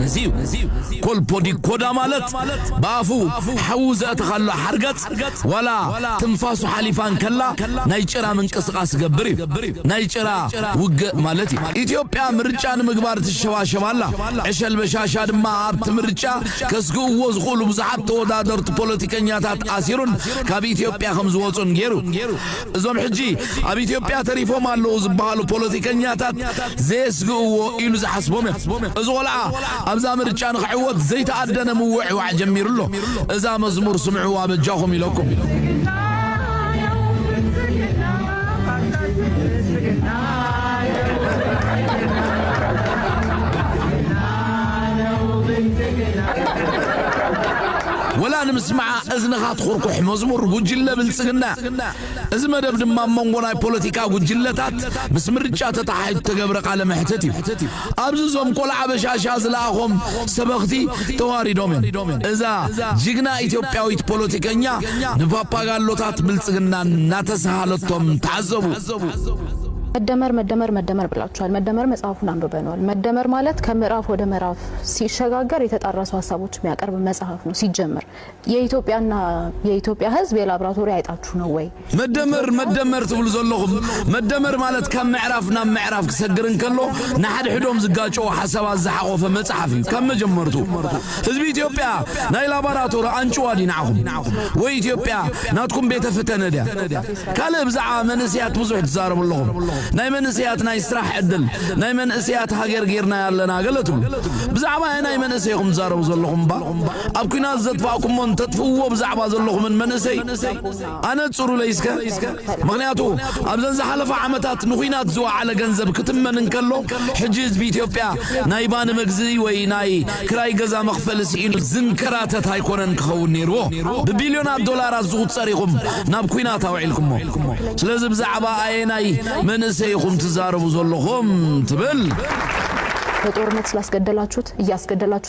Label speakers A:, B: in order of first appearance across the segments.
A: ነዚ እዩ ኮልፖዲ ኮዳ ማለት ብኣፉ ሓዊ ዘእተኻሉ ሓርገጽ ዋላ ትንፋሱ ሓሊፋ እንከላ ናይ ጭራ ምንቅስቓስ ዝገብር እዩ። ናይ ጭራ ውግእ ማለት እዩ። ኢትዮጵያ ምርጫ ንምግባር ትሸባሸብ ኣላ። ዕሸል በሻሻ ድማ ኣብቲ ምርጫ ከስግእዎ ዝኽእሉ ብዙሓት ተወዳደርቲ ፖለቲከኛታት ኣሲሩን ካብ ኢትዮጵያ ከም ዝወጹን ገይሩ። እዞም ሕጂ ኣብ ኢትዮጵያ ተሪፎም ኣለዉ ዝበሃሉ ፖለቲከኛታት ዘየስግእዎ ኢሉ ዝሓስቦም እዮም። እዚ ቆልዓ ኣብዛ ምርጫ ንኽዕወት ዘይተኣደነ ምውዕዋዕ ጀሚሩ ኣሎ። እዛ መዝሙር ስምዕዋ በጃኹም ኢለኩም። ወላ ንምስምዓ እዝንኻ ትኹርኩሕ መዝሙር ጉጅለ ብልጽግና እዚ መደብ ድማ ኣብ መንጎ ናይ ፖለቲካ ጉጅለታት ምስ ምርጫ ተተሓሒዙ እተገብረ ቃለ መሕትት እዩ። ኣብዚ እዞም ቆልዓ በሻሻ ዝለኣኾም ሰበኽቲ ተዋሪዶም እዮም። እዛ ጅግና ኢትዮጵያዊት ፖለቲከኛ ንፓፓጋሎታት ብልጽግና እናተሰሃለቶም ተዓዘቡ። መደመር
B: መደመር መደመር ብላችኋል። መደመር መጽሐፉን አንብበነዋል። መደመር ማለት ከምዕራፍ ወደ ምዕራፍ ሲሸጋገር የተጣረሱ ሀሳቦች የሚያቀርብ መጽሐፍ ነው ሲጀመር። የኢትዮጵያና የኢትዮጵያ ህዝብ የላብራቶሪ ኣይጣችሁ ነው ወይ? መደመር መደመር ትብሉ ዘለኹም መደመር ማለት ካብ ምዕራፍ ናብ ምዕራፍ ክሰግር እንከሎ ንሓድሕዶም ዝጋጨዉ ሓሳባት ዝሓቖፈ መጽሓፍ እዩ ካብ መጀመርቱ ህዝቢ ኢትዮጵያ ናይ ላባራቶሪ ኣንጭዋ ድዩ ንዓኹም ወይ ኢትዮጵያ ናትኩም ቤተ ፈተነ ድያ ካልእ ብዛዕባ መንእስያት ብዙሕ ትዛረቡ ኣለኹም ናይ መንእስያት ናይ ስራሕ ዕድል ናይ መንእስያት ሃገር ጌርናያ ኣለና ገለ ትብሉ ብዛዕባ ናይ መንእሰይኹም ትዛረቡ ዘለኹም እባ ኣብ ኩናት ዘጥፋእኩሞ እንተጥፍእዎ ብዛዕባ ዘለኹምን መንእሰይ ኣነጽሩለይ እስከ ምኽንያቱ ኣብዘን ዝሓለፋ ዓመታት ንኹናት ዝወዓለ ገንዘብ ክትመን እንከሎ ሕጂ ህዝቢ ኢትዮጵያ ናይ ባኒ መግዝኢ ወይ ናይ ክራይ ገዛ መኽፈሊ ስኢኑ ዝንከራተት ኣይኮነን ክኸውን ነይርዎ ብቢልዮናት ዶላራት ዝቑጸር ኢኹም ናብ ኩናት ኣውዒልኩሞ ስለዚ ብዛዕባ ኣየናይ መንእሰይ ኢኹም ትዛረቡ ዘለኹም ትብል በጦርነት ስላስገደላችሁት እያስገደላችሁ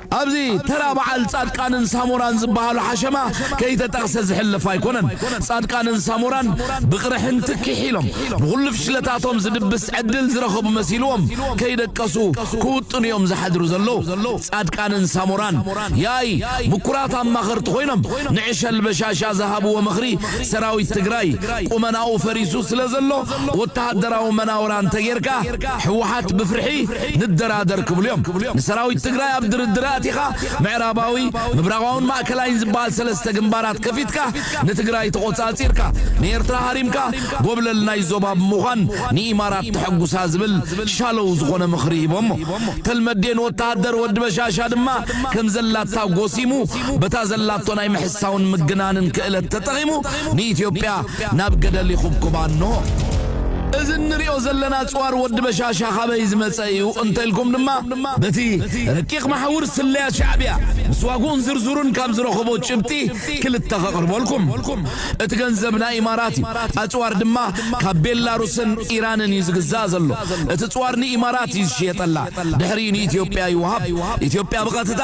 A: ኣብዚ ተራ በዓል ጻድቃንን ሳሞራን ዝበሃሉ ሓሸማ ከይተጠቕሰ ዝሕለፍ ኣይኮነን። ጻድቃንን ሳሞራን ብቕርሕንቲ ኪሕ ኢሎም፣ ንኹሉ ፍሽለታቶም ዝድብስ ዕድል ዝረኸቡ መሲልዎም ከይደቀሱ ክውጥኑ'ዮም ዝሓድሩ ዘለዉ። ጻድቃንን ሳሞራን ያኢ ምኩራት ኣማኸርቲ ኮይኖም ንዕሸል በሻሻ ዝሃብዎ ምኽሪ ሰራዊት ትግራይ ቁመናኡ ፈሪሱ ስለዘሎ ወተሃደራዊ መናውራ እንተጌርካ ህወሓት ብፍርሒ ንደራደር ክብሉ እዮም ንሰራዊት ትግራይ ኣብ ድርድር ኣእቲኻ ምዕራባዊ ምብራቓውን ማእከላይን ዝበሃል ሰለስተ ግንባራት ከፊትካ ንትግራይ ተቖፃፂርካ ንኤርትራ ሃሪምካ ጎብለል ናይ ዞባ ብምዃን ንኢማራት ተሐጉሳ ዝብል ሻሎው ዝኾነ ምኽሪ ሂቦሞ ተልመዴን ወታሃደር ወዲ በሻሻ ድማ ከምዘላታ ጎሲሙ በታ ዘላቶ ናይ ምሕሳውን ምግናንን ክእለት ተጠቒሙ ንኢትዮጵያ ናብ ገደል ይኹብኩባ እንሆ። እዚ እንሪኦ ዘለና ኣጽዋር ወዲ በሻሻ ካበይ ዝመጸ እዩ እንተልኩም ድማ በቲ ረቂቕ መሓውር ስለያ ሻዕብያ ምስ ዋግኡን ዝርዝሩን ካብ ዝረኸቦ ጭብጢ ክልተ ከቕርበልኩም። እቲ ገንዘብ ናይ ኢማራት እዩ። ኣጽዋር ድማ ካብ ቤላሩስን ኢራንን እዩ ዝግዛእ ዘሎ። እቲ ጽዋር ንኢማራት እዩ ዝሽየጠላ። ድሕሪኡ ንኢትዮጵያ ይወሃብ። ኢትዮጵያ ብቐጥታ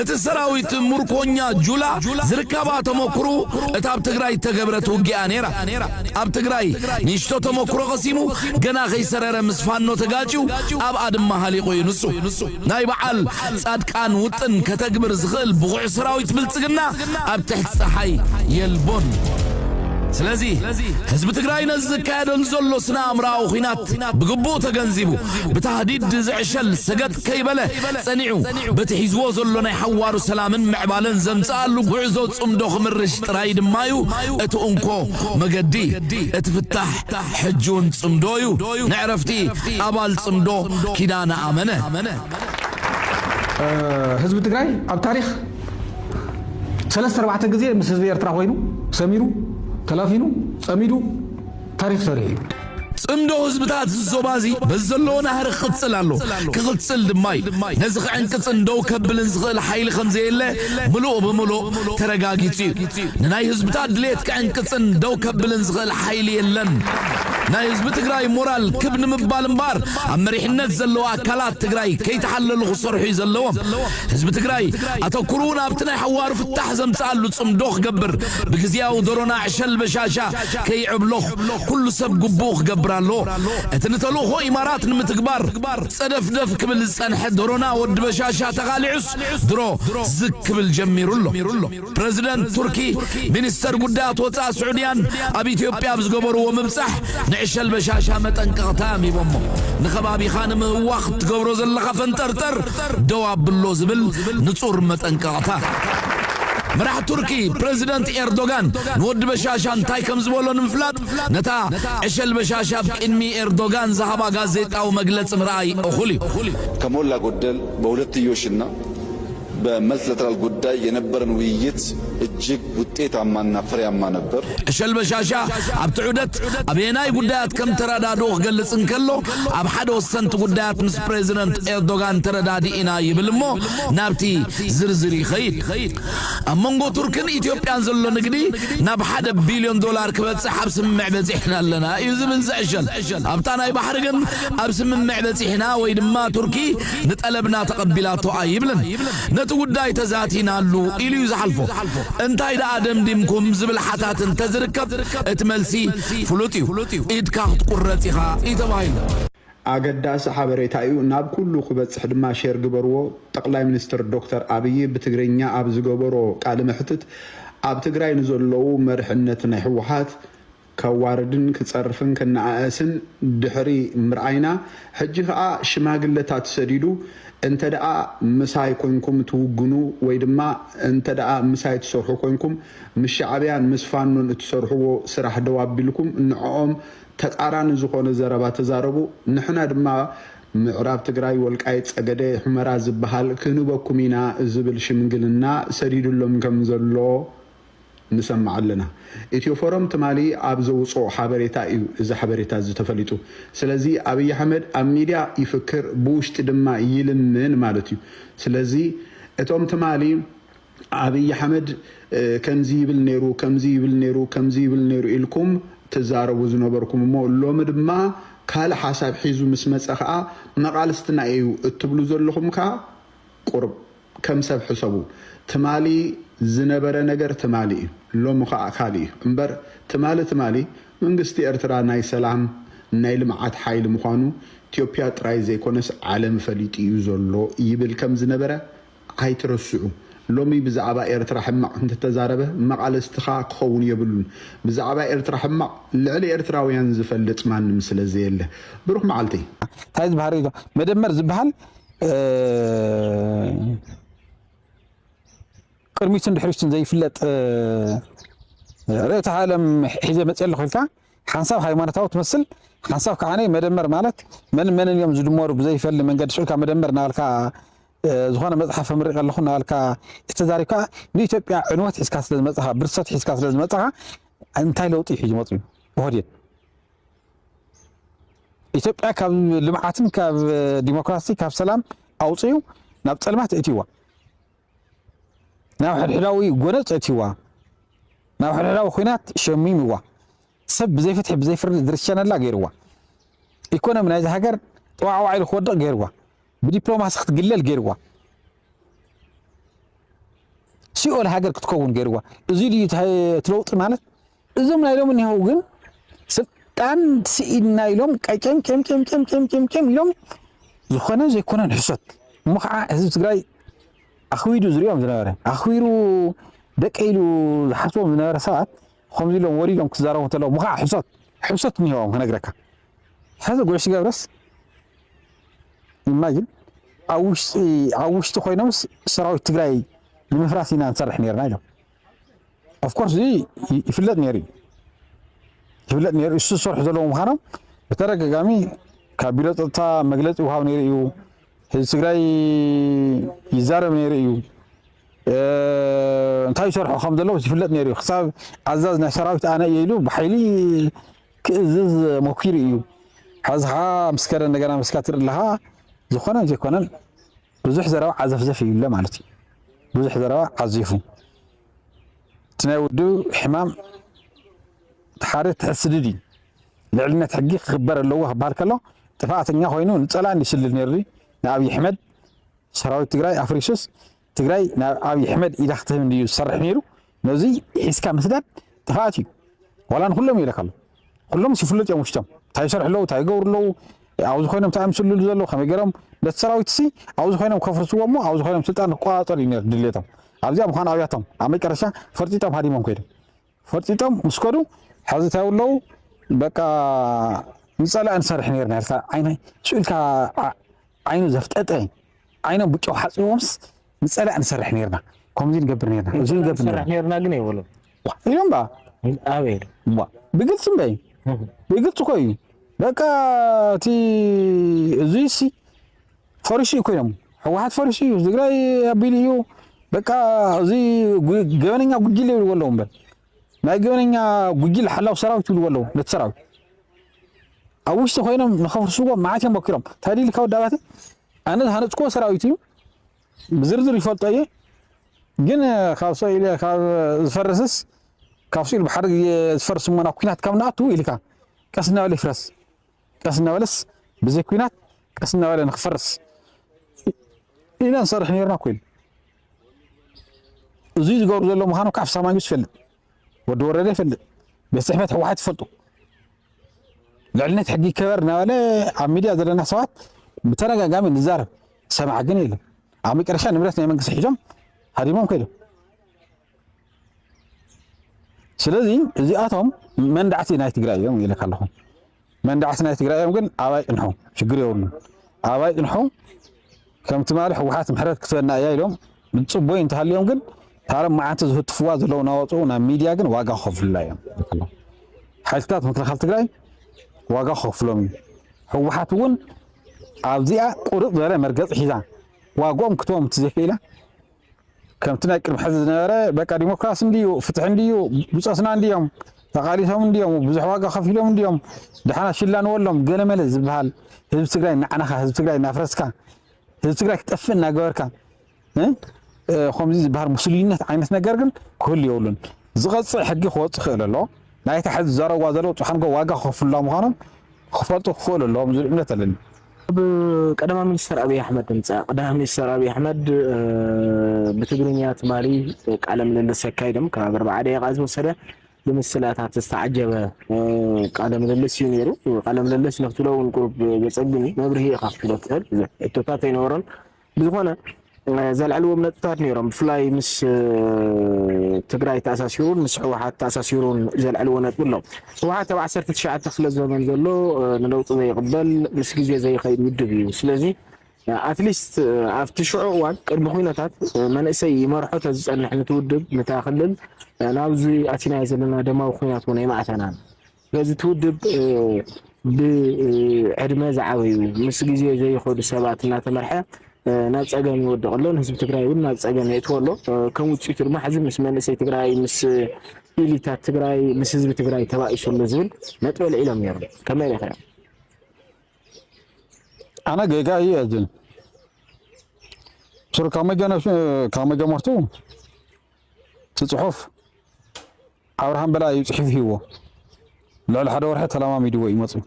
A: እቲ ሰራዊት ሙርኮኛ ጁላ ዝርከባ ተመኩሩ እታ ኣብ ትግራይ እተገብረት ውጊኣ ነይራ ኣብ ትግራይ ንእሽቶ ተመኩሮ ቀሲሙ ገና ከይሰረረ ምስ ፋኖ ተጋጭው ኣብኣ ድማ ሃሊቁ እዩ ንሱ ናይ በዓል ጻድቃን ውጥን ከተግብር ዝኽእል ብቑዕ ሰራዊት ብልጽግና ኣብ ትሕቲ ፀሓይ የልቦን ስለዚ ህዝቢ ትግራይ ነዚ ዝካየደሉ ዘሎ ስነ ኣእምራዊ ኹናት ብግቡእ ተገንዚቡ ብታህዲድ ዝዕሸል ሰገጥ ከይበለ ጸኒዑ በቲ ሒዝዎ ዘሎ ናይ ሓዋሩ ሰላምን ምዕባለን ዘምጽኣሉ ጉዕዞ ጽምዶ ክምርሽ ጥራይ ድማ'ዩ እቲ እንኮ መገዲ። እቲ ፍታሕ ሕጂ'ውን ጽምዶ'ዩ። ንዕረፍቲ ኣባል ጽምዶ ኪዳነ ኣመነ።
C: ህዝቢ ትግራይ ኣብ ታሪኽ ሰለስተ ኣርባዕተ ግዜ ምስ ህዝቢ ኤርትራ ኮይኑ ሰሚሩ ተላፊኑ ጸሚዱ ታሪኽ ሰሪሑ እዩ። ጽምዶ
A: ህዝብታት እዚ ዞባዚ በዚ ዘለዎ ናህሪ ክቕጽል ኣሎ፣ ክቕጽል ድማ እዩ። ነዚ ክዕንቅጽን ደው ከብልን ዝኽእል ሓይሊ ከም ዘየለ ምሉእ ብምሉእ ተረጋጊጹ እዩ። ንናይ ህዝብታት ድሌት ክዕንቅጽን ደው ከብልን ዝኽእል ሓይሊ የለን። ናይ ህዝቢ ትግራይ ሞራል ክብ ንምባል እምበኣር ኣብ መሪሕነት ዘለዉ ኣካላት ትግራይ ከይተሓለሉ ክሰርሑ እዩ ዘለዎም። ህዝቢ ትግራይ ኣተኩርኡ ናብቲ ናይ ሓዋሩ ፍታሕ ዘምጽኣሉ ጽምዶ ክገብር ብግዝያዊ ዶሮና ዕሸል በሻሻ ከይዕብለኹ ኩሉ ሰብ ግቡኡ ክገብር ኣለዎ። እቲ ንተልእኾ ኢማራት ንምትግባር ጸደፍደፍ ክብል ዝጸንሐ ደሮና ወዲ በሻሻ ተቓሊዑስ ድሮ ዝግ ክብል ጀሚሩ ኣሎ። ፕረዚደንት ቱርኪ ሚኒስተር ጉዳያት ወጻእ ስዑድያን ኣብ ኢትዮጵያ ኣብ ዝገበርዎ ምብጻሕ ንዕሸል በሻሻ መጠንቀቕታ እዮም ሂቦሞ። ንከባቢኻ ንምህዋኽ እትገብሮ ዘለኻ ፈንጠርጠር ደው ኣብሎ ዝብል ንጹር መጠንቀቕታ። መራሒ ቱርኪ ፕረዚደንት ኤርዶጋን ንወዲ በሻሻ እንታይ ከም ዝበሎ ንምፍላጥ ነታ ዕሸል በሻሻ ኣብ ቅድሚ ኤርዶጋን ዝሃባ ጋዜጣዊ መግለጺ ምርኣይ እኹል እዩ። ከሞላ
D: ጎደል በሁለትዮሽ እና በመልትለተራል ጉዳይ የነበረን ውይይት እጅግ ውጤታማ እና ፍሬያማ ነበር። ዕሸል በሻሻ
A: ኣብቲ ዑደት ኣበየናይ ጉዳያት ከም ተረዳድኡ ክገልጽ እንከሎ ኣብ ሓደ ወሰንቲ ጉዳያት ምስ ፕረዚደንት ኤርዶጋን ተረዳዲእና ይብል እሞ ናብቲ ዝርዝር ይኸይድ። ኣብ መንጎ ቱርክን ኢትዮጵያን ዘሎ ንግዲ ናብ ሓደ ቢልዮን ዶላር ክበጽሕ ኣብ ስምምዕ በጺሕና ኣለና እዩ ዝብል ዝዕሸል ኣብታ ናይ ባሕሪ ግን ኣብ ስምምዕ በጺሕና ወይ ድማ ቱርኪ ንጠለብና ተቐቢላቶ ኣይብልን ነቲ ጉዳይ ተዛቲናሉ ኢሉ እዩ ዝሓልፎ እንታይ ደኣ ደምዲምኩም ዝብል ሓታት እንተዝርከብ እቲ መልሲ ፍሉጥ እዩ ኢድካ ክትቁረጽ ኢኻ እዩ ተባሂሉ። ኣገዳሲ
E: ሓበሬታ እዩ ናብ ኩሉ ክበፅሕ ድማ ሼር ግበርዎ። ጠቅላይ ሚኒስትር ዶክተር ኣብይ ብትግርኛ ኣብ ዝገበሮ ቃለ መሕትት ኣብ ትግራይ ንዘለዉ መርሕነት ናይ ህወሓት ከዋርድን ክፀርፍን ክነኣእስን ድሕሪ ምርኣይና ሕጂ ከዓ ሽማግለታት ሰዲዱ እንተደኣ ምሳይ ኮይንኩም ትውግኑ ወይ ድማ እንተደኣ ምሳይ ትሰርሑ ኮይንኩም ምስ ሻዕብያን ምስ ፋኖን እትሰርሕዎ ስራሕ ደው ኣቢልኩም ንዖኦም ተቃራኒ ዝኾነ ዘረባ ተዛረቡ ንሕና ድማ ምዕራብ ትግራይ ወልቃይት ፀገዴ ሑመራ ዝብሃል ክንህበኩም ኢና ዝብል ሽምግልና ሰዲድሎም ከም ዘሎ ንሰምዕ ኣለና ኢትዮ ፎረም ትማሊ ኣብ ዘውፅኦ ሓበሬታ እዩ እዚ ሓበሬታ እዚ ተፈሊጡ ስለዚ ኣብይ ኣሕመድ ኣብ ሚድያ ይፍክር ብውሽጢ ድማ ይልምን ማለት እዩ ስለዚ እቶም ትማሊ ኣብይ ኣሕመድ ከምዚ ይብል ነይሩ ከምዚ ይብል ነይሩ ከምዚ ይብል ነይሩ ኢልኩም ትዛረቡ ዝነበርኩም እሞ ሎሚ ድማ ካልእ ሓሳብ ሒዙ ምስ መጸ ከኣ መቓልስትና ኢዩ እትብሉ ዘለኹም ከኣ ቁርብ ከም ሰብ ሕሰቡ ትማሊ ዝነበረ ነገር ትማሊ ኢዩ ሎሚ ከኣ ካልእ ኢዩ እምበር ትማሊ ትማሊ መንግስቲ ኤርትራ ናይ ሰላም ናይ ልምዓት ሓይሊ ምዃኑ ኢትዮፕያ ጥራይ ዘይኮነስ ዓለም ፈሊጡ ኢዩ ዘሎ ይብል ከም ዝነበረ ኣይትረስዑ ሎሚ ብዛዕባ ኤርትራ ሕማቅ እንተተዛረበ መቃለስትኻ ክኸውን የብሉን ብዛዕባ ኤርትራ ሕማቅ ልዕሊ ኤርትራውያን ዝፈልጥ ማንም ስለዘየለ ብሩኽ መዓልቲ። ታይ ዝባሃል ሪኢቶ
C: መደመር ዝባሃል ቅድሚቱን ድሕሪቱን ዘይፍለጥ ርእተ ዓለም ሒዘ መፅእ ኣለኹ ኢልካ ሓንሳብ ሃይማኖታዊ ትመስል ሓንሳብ ከዓ መደመር ማለት መን መንን እዮም ዝድመሩ ብዘይፈሊ መንገዲ ስዑልካ መደመር እናበልካ ዝኾነ መጽሓፍ ኣምሪቐ ኣለኹ እናበልካ ተዛሪብካ ንኢትዮጵያ ዕንወት ሒዝካ ስለ ዝመጻኻ ብርሰት ሒዝካ ስለ ዝመጻኻ እንታይ ለውጢ ሒዙ መጽዩ ብሆዴድ ኢትዮጵያ ካብ ልምዓትን ካብ ዲሞክራሲ ካብ ሰላም ኣውፅዩ ናብ ፀልማት እእትዋ ናብ ሕድሕዳዊ ጎነፅ እእትዋ ናብ ሕድሕዳዊ ኩናት ሸሚምዋ ሰብ ብዘይ ፍትሒ ብዘይ ፍርዲ ዝርሸነላ ገይርዋ ኢኮኖሚ ናይዚ ሃገር ጠዋዕዋዕ ኢሉ ክወድቕ ገይርዋ ብዲፕሎማሲ ክትግለል ገይርዋ። ሲኦል ሃገር ክትከውን ገይርዋ። እዚ ድዩ እቲ ለውጢ ማለት? እዞም ናይ ሎሚ እኒሀው ግን ስልጣን ስኢንና ኢሎም ቀጨምጨምጨምጨምጨምጨም ኢሎም ዝኾነ ዘይኮነን ሕሶት እሞ ከዓ ህዝቢ ትግራይ ኣኽቢዱ ዝሪኦም ዝነበረ ኣኽቢሩ ደቂ ኢሉ ዝሓስቦም ዝነበረ ሰባት ከምዚ ኢሎም ወሪዶም ክዛረቡ እንተለዉ እሞ ከዓ ሕሶት ሕሶት እኒሀዎም ክነግረካ ሕዚ ጉዕሽ ገብረስ ኢማጅን ኣብ ውሽጢ ኮይኖምስ ሰራዊት ትግራይ ንምፍራስ ኢና ንሰርሕ ነርና ኢሎም ኦፍኮርስ እዚ ይፍለጥ ነይሩ እዩ ይፍለጥ ነይሩ እሱ ዝሰርሑ ዘለዎ ምዃኖም ብተደጋጋሚ ካብ ቢሮ ፀጥታ መግለፂ ውሃብ ነይሩ እዩ ህዝቢ ትግራይ ይዛረብ ነይሩ እዩ እንታይ ይሰርሑ ከም ዘለዉ ይፍለጥ ነይሩ እዩ ክሳብ ኣዛዝ ናይ ሰራዊት ኣነ እየ ኢሉ ብሓይሊ ክእዝዝ ሞኪሩ ኢዩ ሐዚ ኸኣ ምስ ከደ እንደገና ምስካ ትርኢ ኣለኻ ዝኾነን ዘይኮነን ብዙሕ ዘረባ ዓዘፍዘፍ ይብለ ማለት እዩ ብዙሕ ዘረባ ዓዚፉ እቲ ናይ ወዱ ሕማም ሓደ ትሕስድድ እዩ ልዕልነት ሕጊ ክኽበር ኣለዎ ክበሃል ከሎ ጥፍኣተኛ ኮይኑ ንፀላእን ይስልል ነይሩ ንኣብዪ ኣሕመድ ሰራዊት ትግራይ ኣፍሪሱስ ትግራይ ናብ ኣብይ ሕመድ ኢዳ ክትህብ እንድዩ ዝሰርሕ ነይሩ ነዙይ ሒዝካ ምስዳድ ጥፍኣት እዩ ዋላ ንኩሎም ይብለካ ኣሎ ኩሎምስ ይፍሉጥ እዮም ውሽጦም እንታይ ይሰርሑ ኣለዉ እንታይ ይገብሩ ኣለዉ ኣብዚ ኮይኖም እንታይ ምስልሉ ዘለዉ ከመይ ገይሮም ነቲ ሰራዊትሲ ኣብዚ ኮይኖም ከፍርስዎ እሞ ኣብዚ ኮይኖም ስልጣን ክቆፃፀሩ እዩ ነይሩ ድሌቶም ኣብዚኣ ምዃኑ ኣብያቶም ኣብ መጨረሻ ፈርጢጦም ሃዲሞም ኮይዶም ፈርጢጦም ምስ ከዱ ሐዚ እንታይ ይብሉ ኣለዉ በቃ ንፀላኢ ንሰርሕ ነርና ኢልካ ዓይነ ሽኡ ኢልካ ዓይኑ ዘፍጠጠ ዓይኖም ብጨው ሓፅቦምስ ንፀላእ ንሰርሕ ነርና ከምዚ ንገብር ነርና እዚ ንገብር ነርና ግን ይብሉ እዮም ባ ኣበይ ብግልፂ እምበይ ብግልፂ እኮ እዩ በቃ እቲ እዙይ ሲ ፈሪሱ እዩ እኮ ኢሎም ሕወሓት ፈሪሱ እዩ ትግራይ ኣቢሉ እዩ በቃ እዚ ገበነኛ ጉጅለ ይብልዎ ኣለዉ እምበር ናይ ገበነኛ ጉጅለ ሓላው ሰራዊት ይብልዎ ኣለዉ ነቲ ሰራዊት ኣብ ውሽጢ ኮይኖም ንኸፍርስዎ መዓት እዮም ሞኪሮም እንታይ ኢልካ ወዲ ኣባተ ኣነ ዝሃነፅክዎ ሰራዊት እዩ ብዝርዝር ይፈልጦ እየ ግን ካብ ሰኢለ ካብ ዝፈርስስ ካብ ስኢሉ ብሓደ ግዜ ዝፈርስ እሞና ኩናት ካብ ንኣቱ ኢልካ ቀስ እናበለ ይፍረስ ቀስ እናበለስ ብዘይ ኩናት ቀስ እናበለ ንክፈርስ ኢና ንሰርሕ ነርና ኮይኑ እዙይ ዝገብሩ ዘሎ ምዃኑ ካብ ፍሳ ማንጁስ ይፈልጥ ወዲ ወረደ ይፈልጥ ቤት ፅሕፈት ህወሓት ይፈልጡ ልዕልነት ሕጊ ይከበር እናበለ ኣብ ሚድያ ዘለና ሰባት ብተደጋጋሚ ንዛረብ ሰማዕ ግን የለን ኣብ መጨረሻ ንብረት ናይ መንግስቲ ሒዞም ሃዲሞም ከይዶም ስለዚ እዚኣቶም መንዳዕቲ ናይ ትግራይ እዮም ይልካ ኣለኹ። መንዳዕቲ ናይ ትግራይ እዮም ግን ኣባይ ጥንሑ ሽግር የብሉ ኣባይ ጥንሑ ከም ትማሊ ሕወሓት ምሕረት ክትበና እያ ኢሎም ንፅቦይ እንተሃልዮም ግን ታረም መዓንቲ ዝህትፍዋ ዘለዉ ናወፅኡ ናብ ሚድያ ግን ዋጋ ክኸፍሉላ እዮም። ሓይልታት ምክልኻል ትግራይ ዋጋ ክኸፍሎም እዩ። ሕወሓት እውን ኣብዚኣ ቁርጥ ዝበለ መርገፂ ሒዛ ዋግኦም ክትቦም ትዘይክኢላ ከምቲ ናይ ቅድሚ ሕዚ ዝነበረ በቃ ዲሞክራሲ እንድዩ ፍትሒ እንድዩ ብፆትና እንድዮም ተቓሊሶም እንድዮም ብዙሕ ዋጋ ከፊሎም እንድዮም ድሓን ኣሽላንወሎም ገለመለ ዝበሃል ህዝቢ ትግራይ እናዕናኻ ህዝቢ ትግራይ እናፍረስካ ህዝቢ ትግራይ ክጠፍእ እናገበርካ ከምዚ ዝበሃል ሙስሊነት ዓይነት ነገር ግን ክህሉ የብሉን። ዝቐፅዕ ሕጊ ክወፅ ክእል ኣሎ ናይታ ሕዚ ዘረዋ ዘለዉ ፅሓንጎ ዋጋ ክኸፍሉላ ምዃኖም ክፈልጡ ክኽእሉ ኣለዎም ዝብል እምነት ኣለኒ። ካብ
B: ቀዳማይ ሚኒስተር ኣብይ ኣሕመድ ንምፃእ ቀዳማይ ሚኒስተር ኣብይ ኣሕመድ ብትግርኛ ትማሊ ቃለ ምልልስ ኣካይዶም ካብ ኣርባዓ ደቂቃ ዝወሰደ ብምስላታት ዝተዓጀበ ቃለ ምልልስ እዩ ነይሩ። ቃለ ምልልስ ንክትብሎ እውን ቁሩብ ዘፀግም እዩ። መብርሂ ኢኻ ክትብሎ ትኽእል ሕቶታት ኣይነበሮን። ብዝኾነ ዘልዐልዎም ነጥብታት ነይሮም ብፍላይ ምስ ትግራይ ተኣሳሲሩን ምስ ህወሓት ተኣሳሲሩን ዘልዐልዎ ነጥቢ ኣሎ። ህወሓት ኣብ ዓሰርተ ትሽዓተ ክፍለ ዘመን ዘሎ ንለውጢ ዘይቕበል ምስ ግዜ ዘይኸይድ ውድብ እዩ። ስለዚ ኣትሊስት ኣብቲ ሽዑ እዋን ቅድሚ ኩነታት መንእሰይ ይመርሖ ተዝፀንሕ ንቲ ውድብ ንታ ክልል ናብዚ ኣቲናዮ ዘለና ደማዊ ኩናት እውን ኣይምኣተናን። ነዚ እቲ ውድብ ብዕድመ ዝዓበዩ ምስ ግዜ ዘይኸዱ ሰባት እናተመርሐ ናብ ፀገም ይወድቕ ኣሎ። ንህዝቢ ትግራይ እውን ናብ ፀገም የእትዎ ኣሎ። ከም ውፅኢቱ ድማ ሕዚ ምስ መንእሰይ ትግራይ ምስ ኢሊታት ትግራይ ምስ ህዝቢ ትግራይ ተባኢሱ ኣሎ ዝብል ነጥቢ ኣልዒሎም ነይሮም። ከመይ ርኢኻዮ?
C: ኣነ ጌጋ እዩ እየ ዝብል ሱር ካብ መጀመርቱ እቲ ፅሑፍ ኣብርሃም በላይ እዩ ጽሒፉ ሂብዎ ልዕሊ ሓደ ወርሒ ተለማሚድዎ እዩ መጽዩ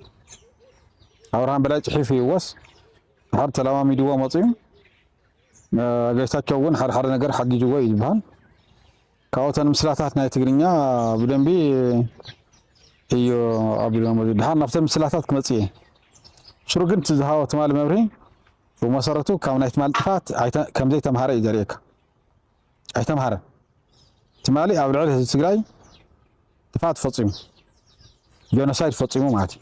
C: ኣብርሃም በላይ ጽሒፉ ሂብዎስ ሓደ ተለማሚድዎ መጽዩ ገይታቸው እውን ሓደ ሓደ ነገር ሓጊጅዎ እዩ ዝበሃል ካብኡተን ምስላታት ናይ ትግርኛ ብደንቢ እዩ ኣቢሎ መዚ ድሓር ናብተን ምስላታት ክመጽ እየ ሽሩ ግን እቲ ዝሃቦ ትማሊ መብርሂ ብመሰረቱ ካብ ናይ ትማሊ ጥፋት ከምዘይተምሃረ እዩ ዘርእየካ ኣይተምሃረን። ትማሊ ኣብ ልዕሊ ህዝቢ ትግራይ ጥፍኣት ፈፂሙ ጆኖሳይድ ፈፂሙ ማለት እዩ።